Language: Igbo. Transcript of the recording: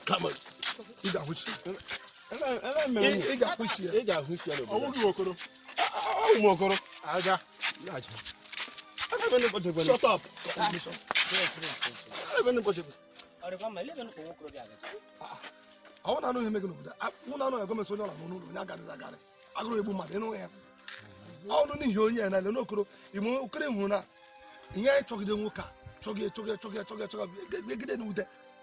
come on ị ga-ahụchi ị ga-ahụchi ya ị ga-ahụchi ya n'obodo ọ wụ gị okoro a wụ m okoro aga laghachi shut up ebe ndị ụbọchị ọ wụ na anụ ihe mega n'obodo mụ na anụ ya gọọmenti onye ọ la n'ụlọ onye agarịzi agarị agụrụ egbu mmadụ ị nụ ya ọnụ n'ihi onye ya na-ele n'okoro ime okoro hụrụ na ihe anyị chọgide nwoke a chọgị chọgị chọgị chọgị chọgị egide na ude